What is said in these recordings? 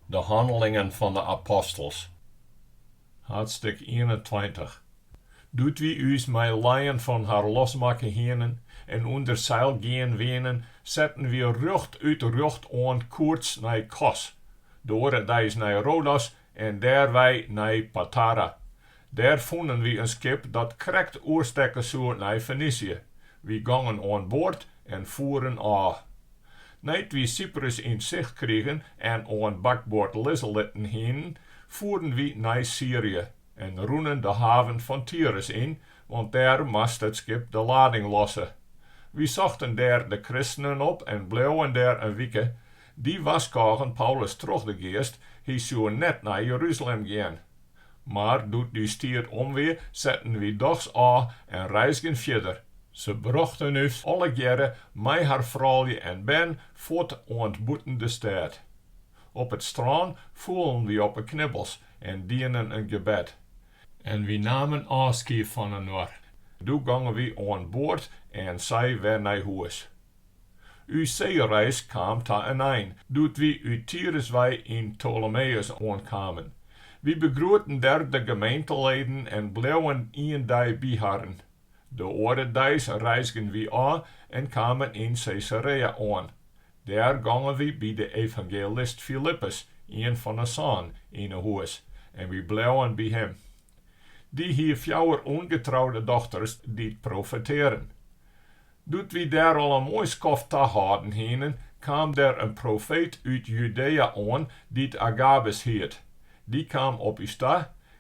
De Hannelingen fan de Apostels, hadstik ienentweintich. Doe't wy ús mei lijen fan har losmakke hienen en ûnder seil gean wienen, setten wy rjochtút rjochtoan koerts nei Kos, de oare deis nei Rodos En dêrwei nei Patara. Dêr fûnen wy in skip dat krekt oerstekke soe nei Fenisje. Wy gongen oan board en foeren ôf. Nei't wy Syprus yn sicht krigen en oan bakboard lizze litten hienen, foeren wy nei Syrje en rûnen de haven fan Tyrus yn, want dêr moast it skip de lading losse. Wy sochten dêr de kristenen op en bleauwen dêr in wike, Dy warskôgen Paulus troch de Geast, hy soe net nei Jeruzalem gean. Mar doe't ús tiid om wie, setten wy dochs ôf en reizgen fierder. Se brochten ús allegearre mei har froulju en bern fuort oant bûten de stêd. Op it strân foelen wy op 'e knibbels en dienen in gebed. En wy namen ôfskied fan inoar. Doe gongen wy oan board en sy wer nei hûs. Us seereis kaam ta in ein doe't wy út Tyrus wei yn Ptolemeüs oankamen. Wy begroeten der de gemeenteleden en bleauwen ien dei by harren. De oare deis reizgen wy ôf en kamen yn Caesarea oan. Dêr gongen wy by de evangelist Filippus, ien fan 'e sân, yn 'e hûs en wy bleauwen by him. Dy hie fjouwer ûngetroude dochters dy't profetearren. Doe't wy dêr al in moai skoft tahâlden hienen, kaam der in profeet út Judea oan, dy't Agabus hiet. Dy kaam op ús ta,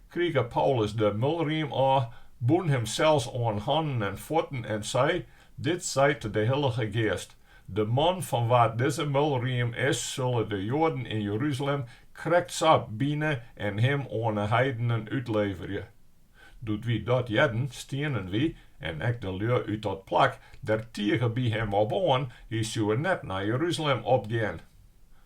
krige Paulus de mulriem ôf, bûn himsels oan hannen en fuotten en sei, Dit seit de Hillige Geast, De man fan wa't dizze mulriem is, sulle de Joaden yn Jeruzalem krekt sa bine en him oan 'e heidenen útleverje. Doe't wy dat hearden, stienen wy, en ek de lju út dat plak, der tige by him op oan, Hy soe net nei Jeruzalem opgean.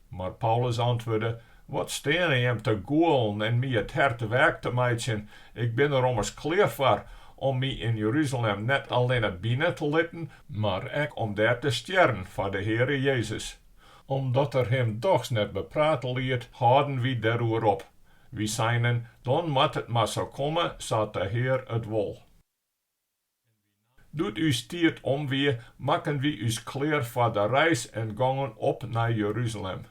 Mar Paulus antwurde, Wat steane jim te gûlen en my it hert weak te meitsjen? Ik bin der ommers klear foar, om my yn Jeruzalem net allinne bine te litten, mar ek om dêr te stjerren foar de Heare Jezus. Omdat er him dochs net beprate liet, hâlden wy deroer op, Wy seinen, Dan moat it mar sa komme sa't de Hear it wol. Doe't ús tiid om wie, makken wy ús klear foar de reis en gongen op nei Jeruzalem.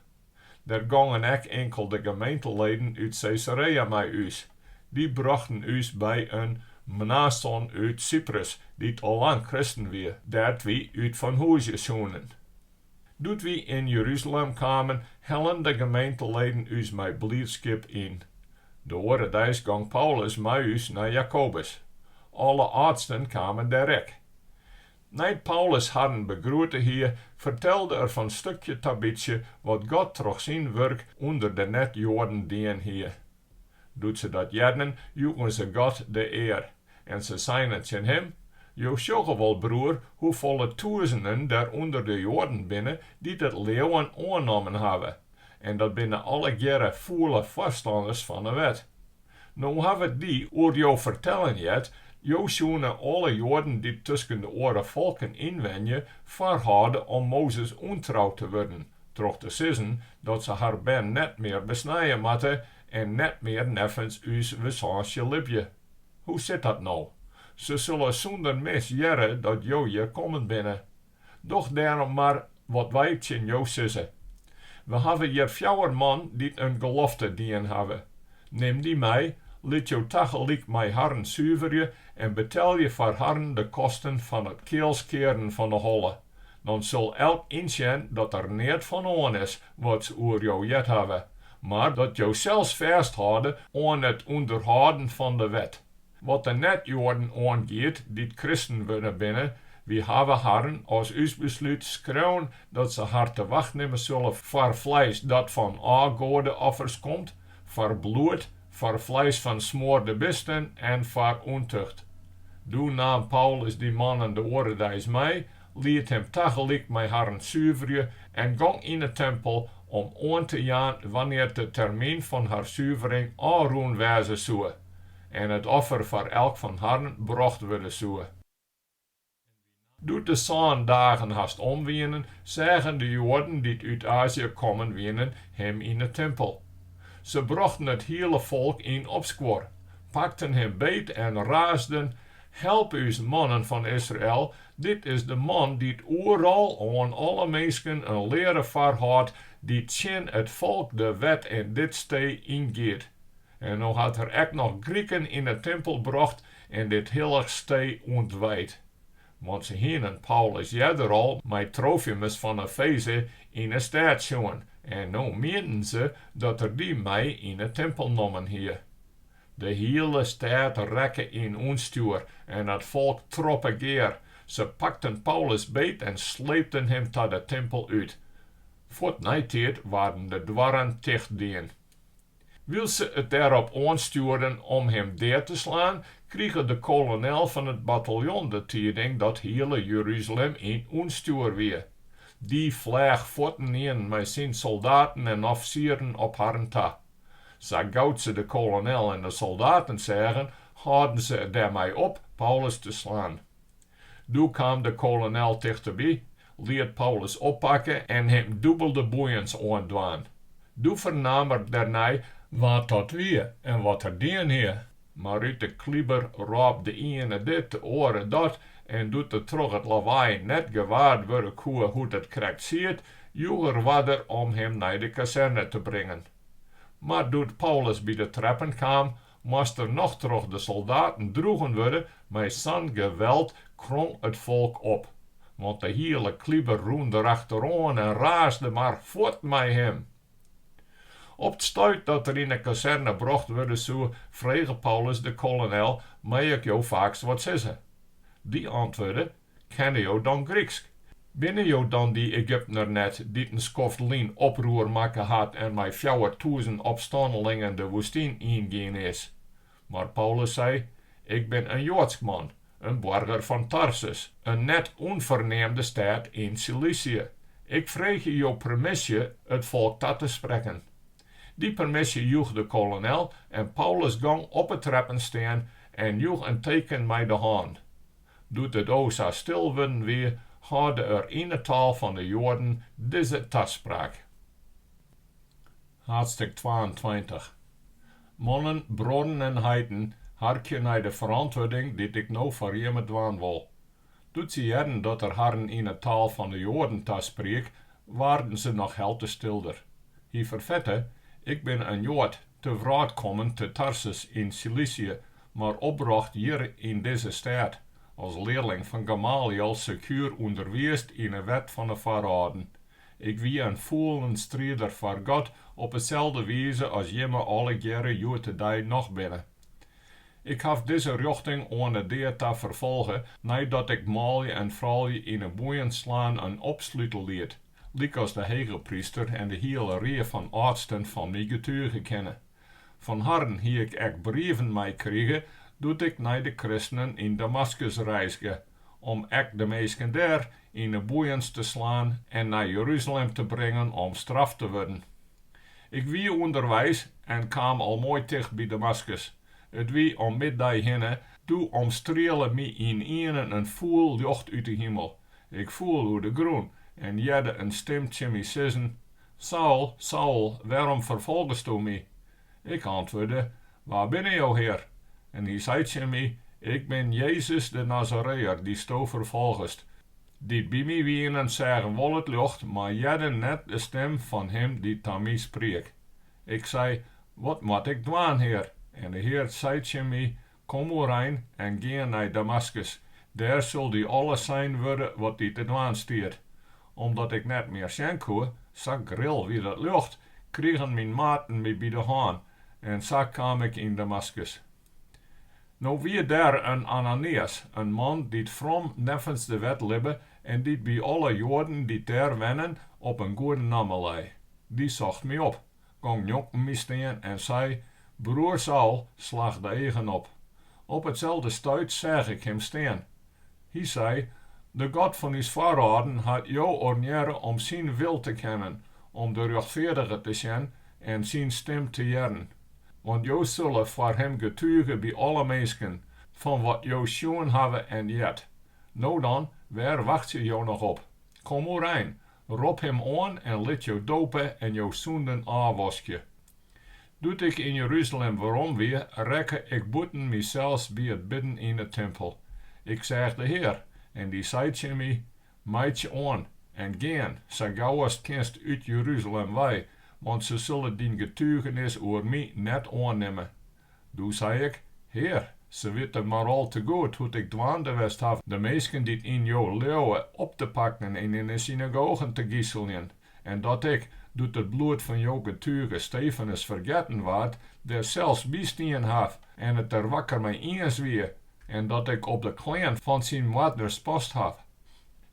Der gongen ek inkelde gemeenteleden út Caesarea mei ús. Dy brochten ús by in Mnason út Syprus, dy't al lang kristen wie, dêr't wy útfanhûzje soenen. Doe't wy yn Jerusalem kamen, hellen de gemeenteleden ús mei bliidskip yn. De oare deis gong Paulus mei ús nei Jakobus. Alle âldsten kamen dêr ek. Nei't Paulus harren begroete hie, fertelde er fan stukje ta bytsje wat God troch syn wurk ûnder de net-Joaden dien hie. Doe't se dat hearden, joegen se God de ear, en se seinen tsjin him, Jo sjogge wol, broer, hoefolle tûzenen der ûnder de Joaden binne dy't it leauwen oannommen hawwe, en dat binne allegearre fûle foarstanners fan 'e wet. No hawwe dy oer jo fertellen heard, Jo soene alle Joaden dy't tusken de oare folken ynwenje, foarhâlde om Mozes ûntrou te wurden, troch te sizzen dat se har bern net mear besnije moatte en net mear neffens ús wizânsje libje. Hoe sit dat no? Se sille sûnder mis hearre dat jo hjir kommen binne. Doch dêrom mar wat wy tsjin jo sizze. We hawwe hjir fjouwer man dy't in gelofte dien hawwe. Nim dy mei, lit jo tagelyk mei harren suverje en betelje jo foar harren de kosten fan it kealskearen fan 'e holle. Dan sil elk ynsjen dat der neat fan oan is wat se oer jo heard hawwe, mar dat jo sels fêsthâlde oan it ûnderhâlden fan de wet. Wat de net-Joaden oangiet dy't kristen wurden binne, wy hawwe harren as ús beslút skreaun dat se har te wacht nimme sulle foar fleis dat fan ôfgoadeoffers komt, foar bloed, foar fleis fan smoarde bisten en foar ûntucht. Doe naam Paulus dy mannen de oare deis mei, liet him tagelyk mei harren suverje en gong yn 'e timpel om oan te jaan wannear't de termyn fan har suvering ôfrûn wêze soe en it offer foar elk fan harren brocht wurde soe. Doe't de sân dagen hast om wienen, seagen de Joaden dy't út Azië kommen wienen him yn 'e timpel. Se brochten it hiele folk yn opskuor, pakten him beet en raasden, Help ús, mannen fan Israel, dit is de man dy't oeral oan alle minsken in leare foarhâldt, dy't tsjin it folk, de wet en dit stee yngiet. En no hat er ek noch Grieken yn 'e timpel brocht En dit hillich stee ûntwijd. Want se hienen Paulus earder al mei Trofimus fan Efeze yn 'e stêd sjoen, en no mienden se dat er dy mei yn 'e timpel nommen hie. De hiele stêd rekke yn ûnstjoer en it folk troppe gear. Se pakten Paulus beet en sleepten him ta de timpel út. Fuort neitiid waarden de doarren tichtdien. Wylst se it dêrop oanstjoerden om him dead te slaan, krige de kolonel fan it bataljon de tiiding dat hiele Jeruzalem yn ûnstjoer wie. Dy fleach fuortynienen mei syn soldaten en offisieren op harren ta. Sa gau't se de kolonel en de soldaten seagen, hâlden se dermei op Paulus te slaan. Doe kaam de kolonel tichteby, liet Paulus oppakke en him dûbelde boeiens oandwaan. Doe fernaam er dêrnei wa't dat wie en wat er dien hie. Mar út de kliber rôp de iene dit, de oare dat, en doe't er troch it lawaai net gewaard wurde koe hoe't it krekt siet, joech er oarder om him nei de kazerne te bringen. Mar doe't Paulus by de treppen kaam, Moast er noch troch de soldaten droegen wurde, mei sa'n geweld krong it folk op, want de hiele kliber rûn derachteroan en raasde mar fuort mei him. Op 't stuit dat er yn 'e kazerne brocht wurde soe, frege Paulus de kolonel, Mei ik jo faaks wat sizze? Dy antwurde, Kenne jo dan Gryksk? Binne jo dan dy Egyptener net dy't in skoft lyn oproer makke hat en mei fjouwertûzen opstannelingen de woestyn yn gien is? Mar Paulus sei, Ik bin in Joadsk man, in boarger fan Tarsus, in net ûnferneamde stêd yn Silysje. Ik freegje jo permisje it folk ta te sprekken. Dy permisje joech de kolonel en Paulus gong op 'e treppen stean en joech in teken mei de hân. Doe't it o sa stil wurden wie, hâlde er yn 'e taal fan 'e Joaden dizze taspraak. Haadstik twaentweintich. Mannen, bruorren en heiten, harkje nei de ferantwurding dy't ik no foar jimme dwaan wol. Doe't se hearden dat er harren yn 'e taal fan 'e Joaden taspriek, waarden se noch helte stilder. Hy ferfette, Ik bin in Joad, te wrâld kommen te Tarsus yn Silysje mar opbrocht hjir yn dizze stêd, as learling fan Gamaliel sekuer ûnderwiisd yn 'e wet fan 'e foarâlden. Ik wie in fûlen strider foar God op 'e selde wize as jimme allegearre hjoed-de-dei noch binne. Ik haw dizze rjochting oan 'e dea ta ferfolge neidat ik manlju en froulju yn 'e boeien slaan en opslute liet, lykas de hegepryster en de hiele rie fan âldsten fan my getuge kinne. Fan harren hie ik ek brieven meikrige doe't ik nei de kristenen yn Damaskus reizge, om ek de minsken dêr yn 'e boeiens te slaan en nei Jeruzalem te bringen om straft te wurden. Ik wie ûnderweis en kaam al moai ticht by Damaskus. It wie om middei hinne, doe omstriele my ynienen in fûl ljocht út 'e himel. Ik foel oer de grûn en hearde in stim tsjin my sizzen, Saul, Saul, wêrom ferfolgesto my? Ik antwurde, Wa binne jo, Hear? En hy sei tsjin my, Ik bin Jezus de Nazareër, dy'tsto ferfolgest. Dy't by my wienen, seagen wol it ljocht, mar hearden net de stim fan him dy't ta my spriek. Ik sei, Wat moat ik dwaan, Hear? En de Hear sei tsjin my, Kom oerein en gean nei Damaskus, dêr sil dy alles sein wurde wat dy te dwaan stiet. Omdat ik net mear sjen koe, sa gril wie dat ljocht, krigen myn maten my by de hân en sa kaam ik yn Damaskus. No wie dêr in Ananias, in man dy't from neffens de wet libbe en dy't by alle Joaden dy't dêr wennen op in goede namme lei. Dy socht my op. Gong njonken my stean en sei, Broer Saul, slach de eagen op. Op itselde stuit seach ik him stean. Hy sei, De God fan ús foarâlden hat jo ornearre om syn wil te kennen, om de rjochtfeardige te sjen en syn stim te hearren. Want jo sille foar him getuge by alle minsken, fan wat jo sjoen hawwe en heard. No dan, wêr wachtsje jo noch op? Kom oerein, Rop him oan en lit jo dope en jo sûnden ôfwaskje. Doe't ik yn Jeruzalem werom wie, rekke ik bûten mysels by it bidden yn 'e timpel. Ik seach de Hear, en dy sei tsjin my, Meitsje oan, en gean, sa gau ast kinst út Jeruzalem wei, want se sille dyn getugenis oer my net oannimme. Doe sei ik, Hear, se witte mar al te goed hoe't ik dwaande west haw de minsken dy't yn jo leauwe op te pakken en yn 'e synagogen te gyseljen, en dat ik, doe't it bloed fan jo getuge Stefanus fergetten waard, dêr sels by stien haw en it der wakker mei iens wie, en dat ik op de klean fan syn moardners past haw.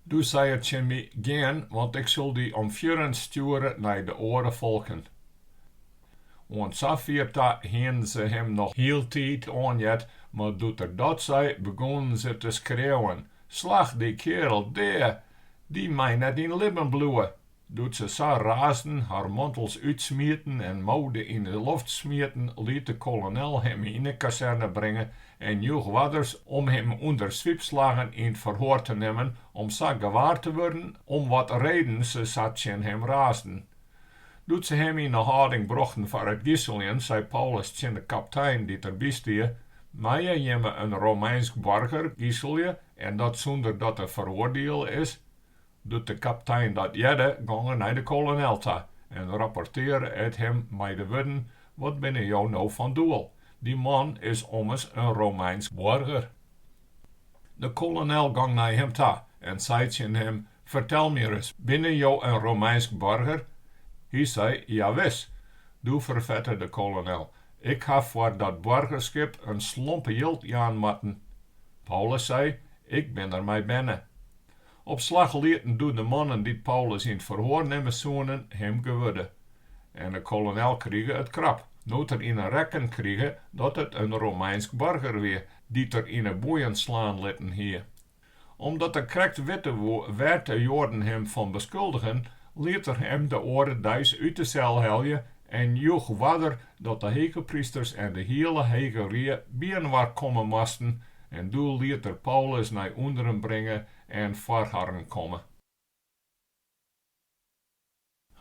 Doe sei er tsjin my, Gean, want ik sil dy om fierren stjoere nei de oare folken. Oant safier ta hienen se him noch hieltyd oanheard, mar doe't er dat sei, begûnen se te skreauwen, Slach dy kearel dea! Dy mei net yn libben bliuwe! Doe't se sa raasden, har mantels útsmieten en moude yn 'e loft smieten, liet de kolonel him yn 'e kazerne bringe en joech oarders om him ûnder swiepslaggen yn 't ferhoar te nimmen om sa gewaar te wurden om wat reden se sa tsjin him raasden. Doe't se him yn 'e hâlding brochten foar it giseljen, sei Paulus tsjin de kaptein dy't der by stie, Meie jimme in Romeinsk boarger giselje en dat sûnder dat er feroardiele is? Doe't de kaptein dat hearde, gong er nei de kolonel ta en rapportearre it him mei de wurden, Wat binne jo no fan doel? Dy man is ommers in Romeinsk boarger. De kolonel gong nei him ta en sei tsjin him, Fertel my ris, binne jo in Romeinsk boarger? Hy sei, Jawis. Doe ferfette de kolonel, Ik ha foar dat boargerskip in slompe jild jaan moatten. Paulus sei, Ik bin der mei berne. Op slach lieten doe de mannen dy't Paulus yn it ferhoar nimme soenen him gewurde. En de kolonel krige it krap, no't er yn 'e rekken krige dat it in Romeinsk boarger wie dy't er yn 'e boeien slaan litten hie. Omdat er krekt witte woe wêr't de Joaden him fan beskuldigen, liet er him de oare deis út de sel helje en joech oarder dat de hegeprysters en de hiele hege rie byinoar komme moasten En doe liet er Paulus nei ûnderen bringe en foar harren komme.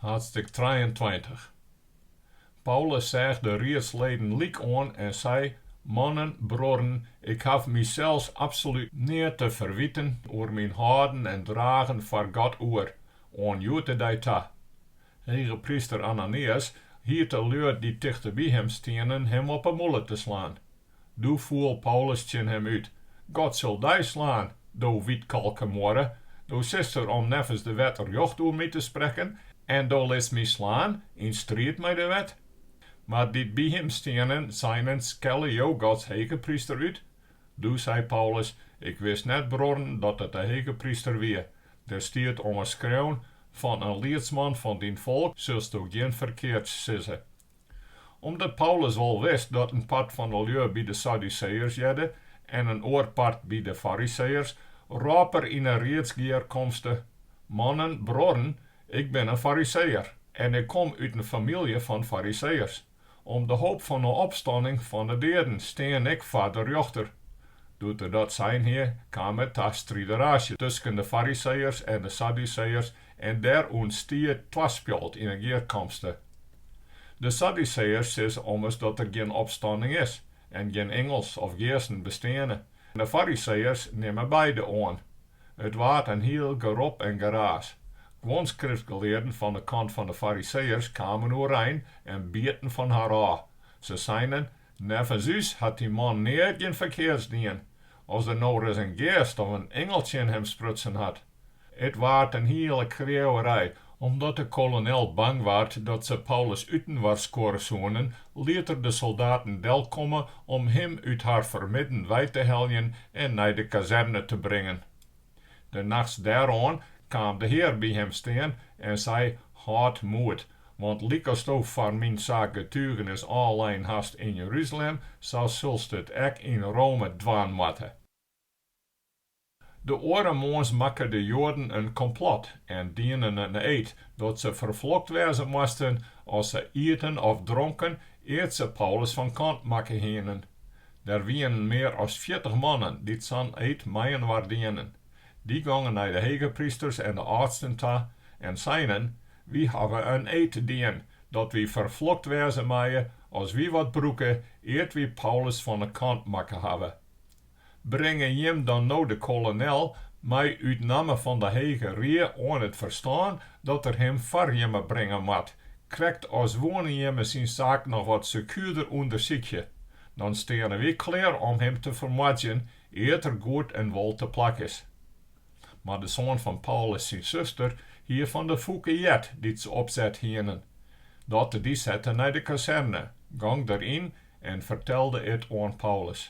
Haadstik trijeentweintich. Paulus seach de riedsleden lyk oan en sei, Mannen, bruorren, ik haw mysels absolút neat te ferwiten oer myn hâlden en dragen foar God oer, oan hjoed-de-dei ta. Hegepryster Ananias hiet de lju dy't tichteby him stienen him op 'e mûle te slaan. Doe foel Paulus tsjin him út, God sil dy slaan, do wytkalke muorre, do sitst dêr om neffens de wet rjocht oer my te sprekken, en do litst my slaan yn striid mei de wet. Mar dy't by him stienen, seinen, Skelle jo Gods hegepryster út? Doe sei Paulus, Ik wist net, bruorren, dat it de hegepryster wie. Der stiet ommers skreaun, Fan in liedsman fan dyn folk silsto gjin ferkeards sizze, Omdat Paulus wol wist dat in part fan de lju by de Sadduseeërs hearde en in oar part by de Fariseeërs, rôp er yn 'e riedsgearkomste, Mannen, bruorren, ik bin in Fariseeër en ik kom út in famylje fan Fariseeërs. Om de hoop fan 'e opstanning fan 'e deaden stean ik foar de rjochter. Doe't er dat sein hie, kaam it ta strideraasje tusken de Fariseeërs en de Sadduseeërs En der ûntstie twaspjalt yn 'e gearkomste. De Sadduseeërs sizze ommers dat der gjin opstanning is en gjin ingels of geasten besteane, en de Fariseeërs nimme beide oan. It waard in hiel gerop en geraas. Guon skriftgelearden fan 'e kant fan 'e Fariseeërs kamen oerein en bieten fan har ôf. Se seinen, Neffens ús hat dy man neat gjin ferkeards dien, as der no ris in geast of in ingel tsjin him sprutsen hat. It waard in hiele kreauwerij, omdat de kolonel bang waard dat se Paulus útinoarskuorre soenen, liet er de soldaten delkomme om him út har fermidden wei te heljen en nei de kazerne te bringen. De nachts dêroan kaam de Hear by him stean en sei, Hâld moed, want lykasto foar myn saak getugenis ôflein hast yn Jeruzalem, sa sulst it ek yn Rome dwaan moatte. De oare moarns makke de Joaden in komplot en dienen in eed dat se ferflokt wêze moasten as se ieten of dronken ear't se Paulus fan kant makke hienen. Der wienen mear as fjirtich mannen dy't sa'n eed mei-inoar dienen. Dy gongen nei de hegeprysters en de âldsten ta en seinen, Wy hawwe in eed dien dat wy ferflokt wêze meie as wy wat brûke ear't wy Paulus fan 'e kant makke hawwe. bringe jim dan no de kolonel mei út namme fan de Hege Rie oan it ferstân dat er him foar jimme bringe moat, krekt as woenen jimme syn saak noch wat sekuerder ûndersykje, dan steane wy klear om him te fermoardzjen ear't er goed en wol te plak is. Mar de soan fan Paulus syn suster hie fan de fûke heard dy't se opset hienen, dat de dy sette nei de kazerne, gong der yn en fertelde it oan Paulus.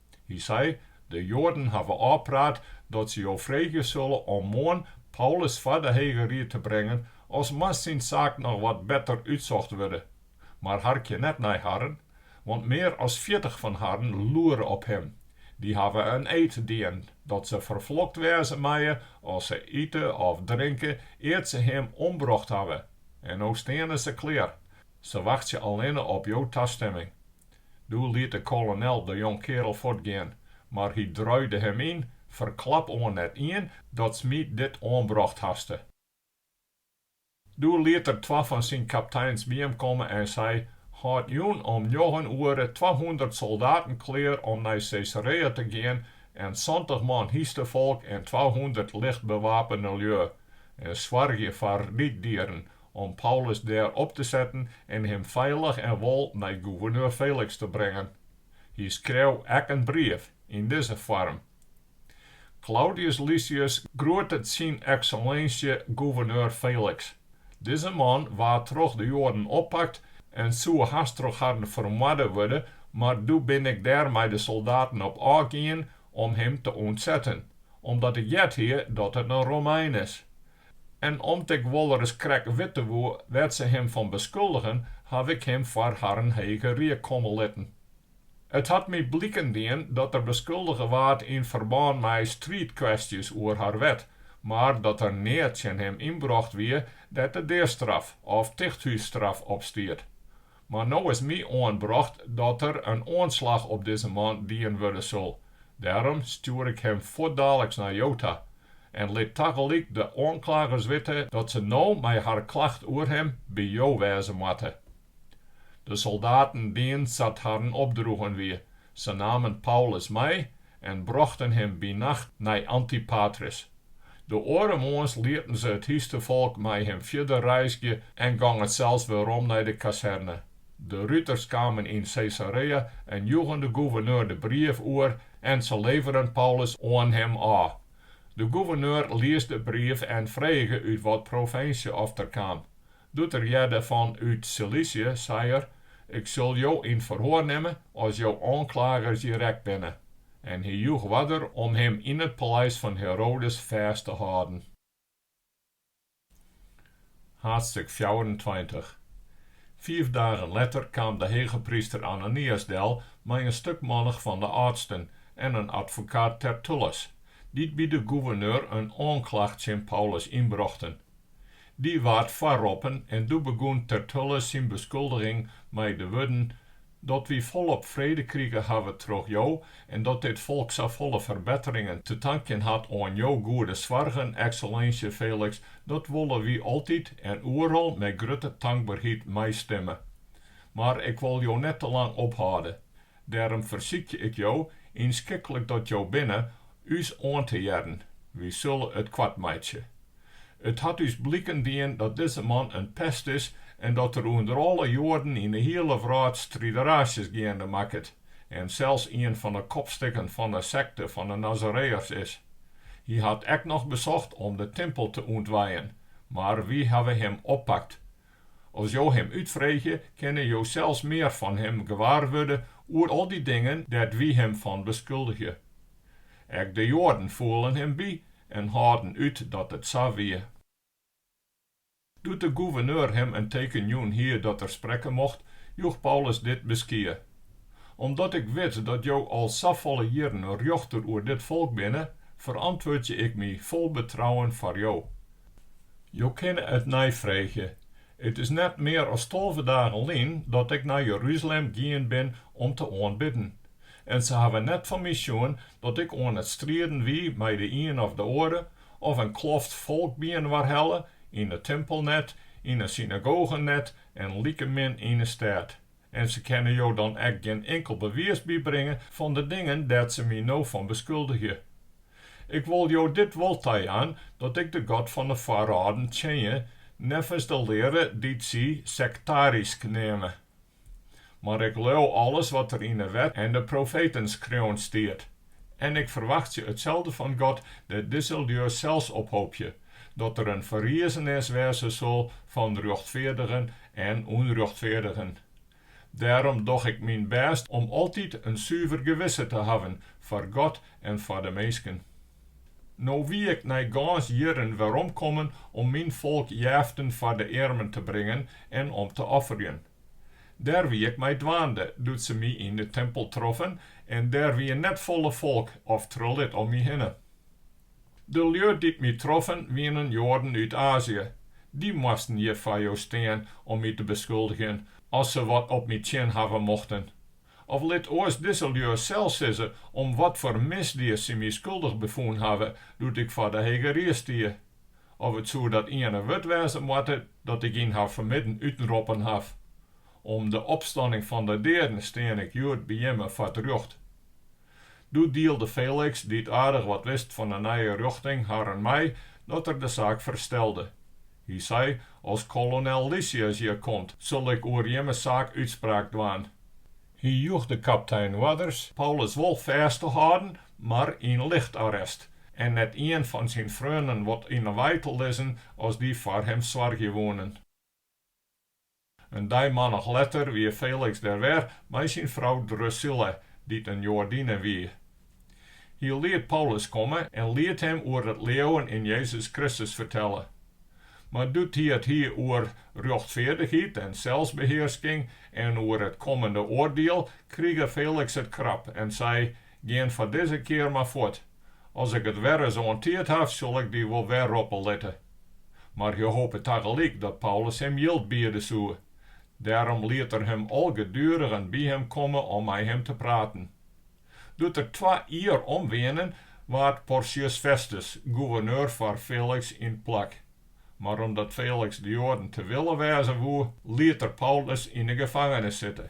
Hy sei, De Joaden hawwe ôfpraat dat se jo freegje sille om moarn Paulus foar de Hege Rie te brengen as moast syn saak noch wat better útsocht wurde. Mar harkje net nei harren, want mear as fjirtich fan harren loere op him. Dy hawwe in eed dien dat se ferflokt wêze meie as se ite of drinke ear't se him ombrocht hawwe. En no steane se klear. Se wachtsje allinne op jo tastemming. Doe liet de kolonel de jongkeardel fuortgean, mar hy druide him yn, Ferklap oan net ien datst my dit oanbrocht haste. Doe liet er twa fan syn kapteins by him komme en sei, Hâld jûn om njoggen oere twahûndert soldaten klear om nei Caesarea te gean en santich man hynstefolk en twahûndert lichtbewapene lju, en soargje foar ryddieren om Paulus dêr op te setten en him feilich en wol nei gûverneur Feliks te bringen. Hy skreau ek in brief yn dizze foarm, Klaudius Lysias groetet syn Eksellinsje gûverneur Feliks. Dizze man waard troch de Joaden oppakt en soe hast troch harren fermoarde wurde, mar doe bin ik dêr mei de soldaten op ôfgien om him te ûntsetten, omdat ik heard hie dat it in Romein is. En om't ik wolris krekt witte woe wêr't se him fan beskuldigen, haw ik him foar harren hege rie komme litten. It hat my bliken dien dat er beskuldige waard yn ferbân mei striidkwestjes oer har wet, mar dat der neat tsjin him ynbrocht wie dêr't de deastraf of tichthússtraf op stiet. Mar no is my oanbrocht dat der in oanslach op dizze man dien wurde sil. Dêrom stjoer ik him fuortdaliks nei jo ta en lit tagelyk de oanklagers witte dat se no mei har klacht oer him by jo wêze moatte. De soldaten dienen sa't harren opdroegen wie, Se namen Paulus mei en brochten him by nacht nei Antipatris. De oare moarns lieten se it hynstefolk mei him fierder reizgje en gongen sels werom nei de kazerne. De ruters kamen yn Caesarea en joegen de gouverneur de brief oer en se leveren Paulus oan him ôf. De gouverneur lies de brief en frege út wat provinsje oft er kaam. Doe't er hearde fan út Silisje, sei er, Ik sil jo yn ferhoar nimme as jo oanklagers hjir ek binne. En hy joech oarder om him yn it paleis fan Herodes fêst te hâlden. Haadstik fjouwerentweintich. Fiif dagen letter kaam de hegepryster Ananias del mei in stuk mannich fan de âldsten en in advokaat Tertullus, dy't by de goeverneur in oanklacht tsjin Paulus ynbrochten. Dy waard foarroppen en doe begûn Tertullus syn beskuldiging mei de wurden, Dat wy folop frede krige hawwe troch jo en dat dit folk safolle ferbetteringen te tankjen hat oan jo goede soargen, Eksellinsje Feliks, dat wolle wy altyd en oeral mei grutte tankberheid meistimme. Mar ik wol jo net te lang ophâlde. Dêrom fersykje ik jo, ynskiklik as jo binne, ús oan te hearren. Wy sille it koart meitsje. It hat ús bliken dien dat dizze man in pest is en dat er ûnder alle Joaden yn 'e hiele wrâld strideraasjes geande makket en sels ien fan 'e kopstikken fan 'e sekte fan 'e Nazareërs is. Hy hat ek noch besocht om de timpel te ûntwijen, mar wy hawwe him oppakt. As jo him útfreegje, kinne jo sels mear fan him gewaar wurde oer al dy dingen dêr't wy him fan beskuldigje. Ek de Joaden foelen him by en hâlden út dat it sa wie. Doe't de goeverneur him in teken jûn hie dat er sprekke mocht, joech Paulus dit beskie, Omdat ik wit dat jo al safolle jierren rjochter oer dit folk binne, ferantwurdzje ik my fol betrouwen foar jo. Jo kinne it neifreegje, It is net mear as tolve dagen lyn dat ik nei Jeruzalem gien bin om te oanbidden. En se hawwe net fan my sjoen dat ik oan it strieden wie mei de ien of de oare, of in kloft folk byinoar helle, yn de timpel net, yn 'e synagogen net en likemin yn 'e stêd. En se kinne jo dan ek gjin inkeld bewiis bybringe fan de dingen dêr't se my no fan beskuldigje. Ik wol jo dit wol tajaan, dat ik de God fan 'e foarâlden tsjinje neffens de leare dy't sy sektarysk neame. Mar ik leau alles wat der yn 'e Wet en de profeten skreaun stiet. En ik ferwachtsje itselde fan God, dêr't dizze lju sels op hoopje, dat der in ferriezenis wêze sil fan rjochtfeardigen en ûnrjochtfeardigen. Dêrom doch ik myn bêst om altyd in suver gewisse te hawwen foar God en foar de minsken. No wie ik nei gâns jierren werom kommen om myn folk jeften foar de earmen te bringen en om te offerjen. Dêr wie ik mei dwaande, doe't se my yn de timpel troffen, en dêr wie net folle folk of trelit om my hinne. De lju dy't my troffen, wienen Joaden út Azië. Dy moasten hjir foar jo stean om my te beskuldigjen, as se wat op my tsjin hawwe mochten. Of lit oars dizze lju sels sizze om watfoar misdied sy my skuldich befûn hawwe doe't ik foar de Hege Ried stie. Of it soe dat iene wurd wêze moatte dat ik yn har fermidden útenroppen haw. Om de opstanning fan de deaden stean ik hjoed by jimme foar 't rjocht. Doe dielde Felix, dy't aardich wat wist fan de nije rjochting, harren mei dat er de saak ferstelde. Hy sei, As kolonel Lysias hjir komt, sil ik oer jimme saak útspraak dwaan. Hy joech de kaptein oarders Paulus wol fêst te hâlden, mar yn lichtarrest, en net ien fan syn freonen wat yn 'e wei te lizzen as dy foar him soargje woenen. In dei mannich letter wie Felix der wer mei syn frou Drusilla, dy't in Joadinne wie. Hy liet Paulus komme en liet him oer it leauwen yn Jezus Kristus fertelle. Mar doe't hy it hie oer rjochtfeardichheid en selsbehearsking en oer it kommende oardiel, krige Felix it krap en sei, Gean foar dizze kear mar fuort. As ik it werris oan tiid haw, sil ik dy wol wer roppe litte. Mar hy hope tagelyk dat Paulus him jild biede soe. Dêrom liet er him algedurigen by him komme om mei him te praten. Doe't der twa jier om wienen, waard Porcius Festus goeverneur foar Feliks yn 't plak. Mar omdat Feliks de Joaden te wille wêze woe, liet er Paulus yn 'e gefangenis sitte.